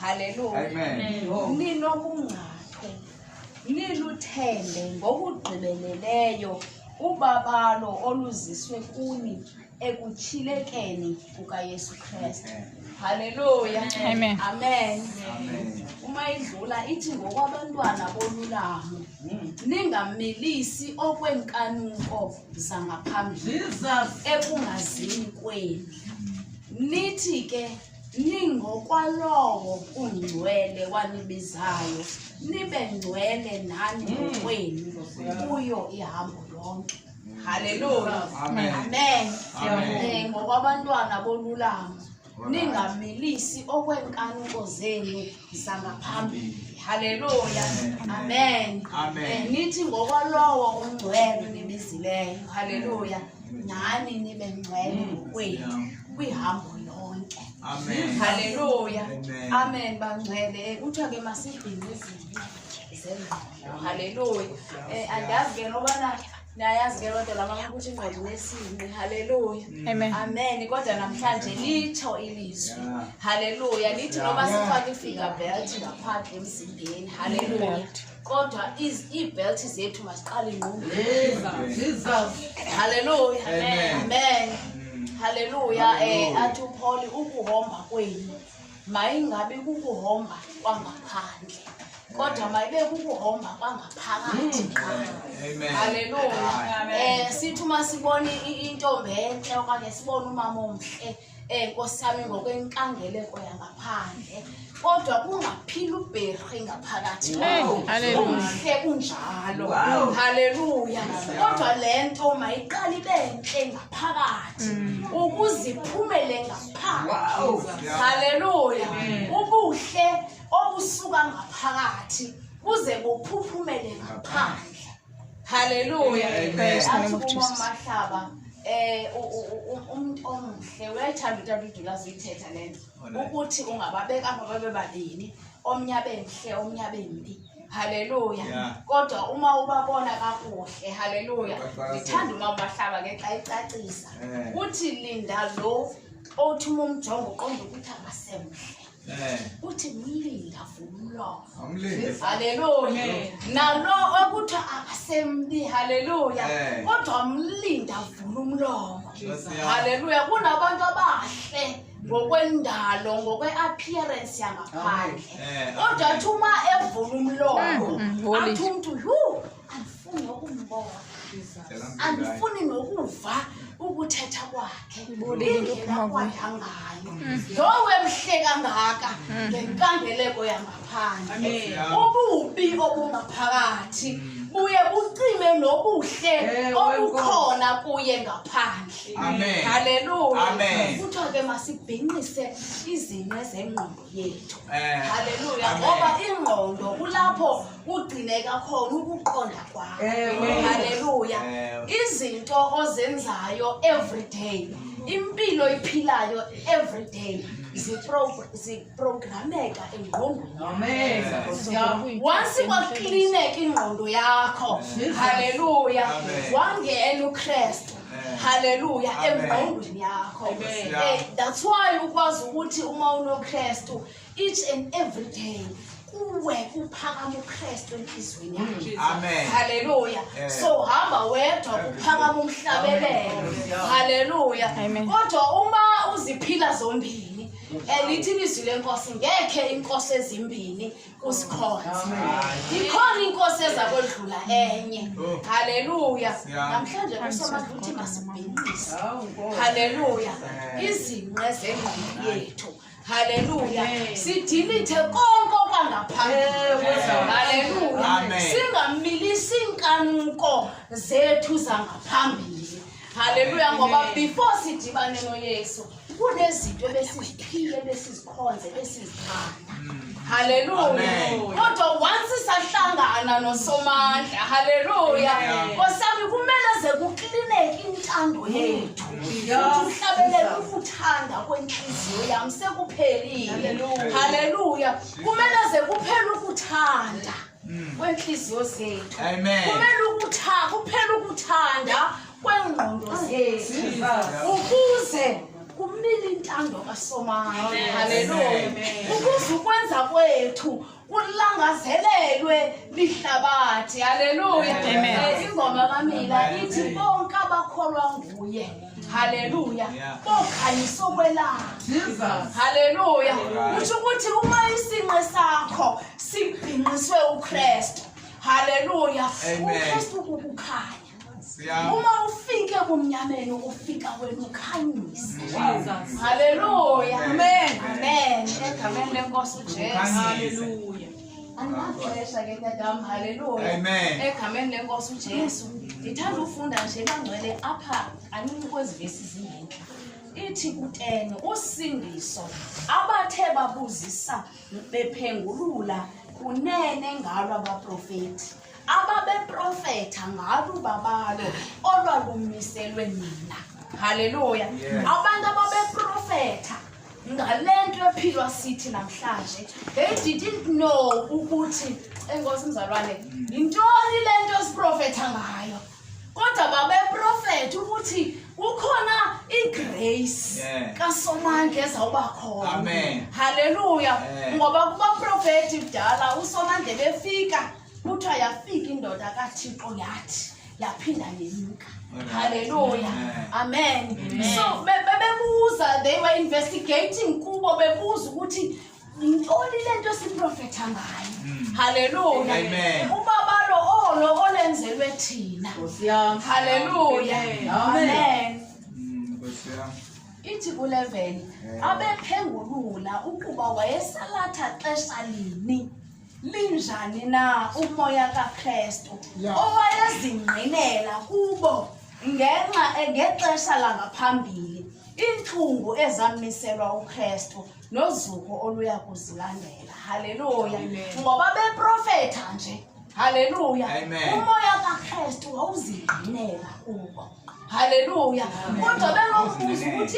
Haleluya. Amen. Ninobungcathu. Niluthembe ngokugqibeleleyo ubabalo oluziswe kuni ekutshilekeni kukaYesu Kristu. Haleluya. Amen. Amen. Amen. Uma idlula ithi ngokwabantwana bolulamo ningamilisi okwenkanuko zangaphambili ekungazini kwenu. Nithi ke ningokwalowo ungcwele wanibizayo nibe ngcwele nani ngokwenu kuyo ihambo lonke haleluya Amen. amen Eh, ngokwabantwana bolulama ningamilisi okweenkanuko zenu sangaphambili haleluya amen eh, nithi ngokwalowo ungcwele nibizileyo haleluya nani nibe ngcwele mm. ngokwenu kwihambo lonke haleluya amen bangcwele eh, kuthiwa ke masibhinqizile zengqondo haleluya um andazi ke nobana Niyayazi ke loo nto lama ukuthi ingqondo nesinqi. Haleluya. Amen. Amen. Kodwa namhlanje litsho ilizwi. Haleluya. Lithi noba sifake ifinger belt ngaphandle emzimbeni. Haleluya. Kodwa iz- iibelt zethu masiqale ingqondweni. Haleluya. Amen. Amen. Haleluya. Eh athi uPaul ukuhomba kwenu mayingabi kukuhomba kwangaphandle kodwa mayibe kukuhomba kwangaphakathi qha haleluya um sithi uma sibone intombi entle okanye sibone umama omhle um nkosi yami ngokwenkangeleko yangaphandle kodwa kungaphila ubherhe ngaphakathi umhle kunjalo haleluya kodwa le nto mayiqale ibe ntle ngaphakathi mm. ukuze iphumele ngaphakathi haleluya ubuhle obusuka ngaphakathi buze buphuphumele ngaphandle haleluya athikumahlaba eh umuntu omuhle uyayithanda uTata uDula ziyithetha lento ukuthi ungababeka babe babini omnye abe mhle omnye abe mbi haleluya Yeah. kodwa uma ubabona kakuhle haleluya Ubaqwalasela. ndithanda uma ubahlaba ke xa icacisa Eh. uthi linda lo othi uma umjongo uqonda ukuthi akasemhle Eh, uthi mlinda vumlomo awumlinde. haleluya Amen. nalo okuthi akasembi haleluya Eh. kodwa mlinda vula umlomo Nkosi yami. haleluya kunabantu abahle ngokwendalo ngokwe-appearance yangaphandle Eh, kodwa athi uma evula umlomo Mm, mm, holy. athi umntu yhu andifuni nokumbona Cela mngani. andifuni nokuva ukuthetha kwakhe Ibole into indlela ephuma kuyo. kwakhe angayo lowo emhle kangaka ngenkangeleko yangaphandle Amen. ububi obungaphakathi buye bucime nobuhle Ewe, obukhona kuye ngaphandle Amen. Hallelujah. Amen. Kuthiwa ke masibhinqise izinto zengqondo yethu. Eh. Hallelujah. Amen. Ngoba ingqondo kulapho kugcineka khona ukuqonda kwakho. Amen. Hallelujah. Amen. Izinto ozenzayo every day. Impilo iphilayo every day. ziprogrameka engqondonionce kwaklineka ingqondo yakho halleluya wangena ukrestu haleluya emvayengweni yakho eh, that's why ukwazi ukuthi uma unokristu each and every day kuwe kuphakama ukristu enhliziyweni yakho haleluya so hamba wedwa kuphakama umhlabelelo haleluya kodwa uma uziphila zombili elithi ilizwi lenkosi ngekhe inkosi ezimbini kusikhonze ndikhona inkosi eza kodlula enye oh. haleluya namhlanje kusomazi ukuthi masibhinqise haleluya izinqe zengqondo yethu haleluya sidilithe konke okwangaphambili singamilisi iinkanuko zethu zangaphambili halleluya ngoba before sidibane noyesu kunezinto ebesiziphile ebesizikhonze ebesizithanda halleluya kodwa once sahlangana nosomandla halleluya kosami kumele ze kuklineke intando yethu umhlabelele ukuthanda kwenhliziyo yam sekuphelile halleluya kumele ze kuphele ukuthanda mm. kweentliziyo zethu kumele ukutha kuphela ukuthanda kweengqondo zethu ukuze kumile intando kasomayo haleluya ukuze ukwenza kwethu kulangazelelwe lihlabathi haleluya ingoma kamila ithi bonke abakholwa nguye haleluya bokhanyisa okwelanga haleluya kusho ukuthi uma isinqe sakho sibhinqiswe ukristu haleluya ukristu kukukhanya uma ufike kumnyameni ufika wena ukhanyise haleluya amen amen egameni lenkosi ujesu haleluya andinaxesha ke tatam haleluya egqameni lenkosi ujesu ndithanda ufunda nje bangcwele apha kanini kwezi vesi zingentla ithi kutene usindiso abathe babuzisa bephengulula kunene ngalo abaprofeti ababeprofetha ngalo babalo olwalumiselwe nina haleluya abantu ababeprofetha ngale nto ephilwa sithi namhlanje they didn't know ukuthi enkosi mzalwane yintoni le nto esiprofetha ngayo kodwa babeprofetha ukuthi kukhona igrace kasomandla ezawuba khona halleluya ngoba kubaprofethi kudala usomandla befika kuthiwa yafika indoda kathixo yathi yaphinda yenyuka halleluya amen so bebebuza they were investigating kubo bebuza ukuthi yintoni le nto siprofetha ngayo hmm. halleluya ubabalo olo olenzelwe thina halleluya amen hmm, ithi ku-11 abephengulula ukuba wayesalatha xesha lini linjani na umoya kakrestu yeah. owayezingqinela kubo ngenxa ngexesha langaphambili iintlungu ezamiselwa ukrestu nozuko oluya kuzilandela haleluya ngoba beprofetha nje haleluya umoya kakrestu wawuzingqinela kubo haleluya kodwa bengombuzi ukuthi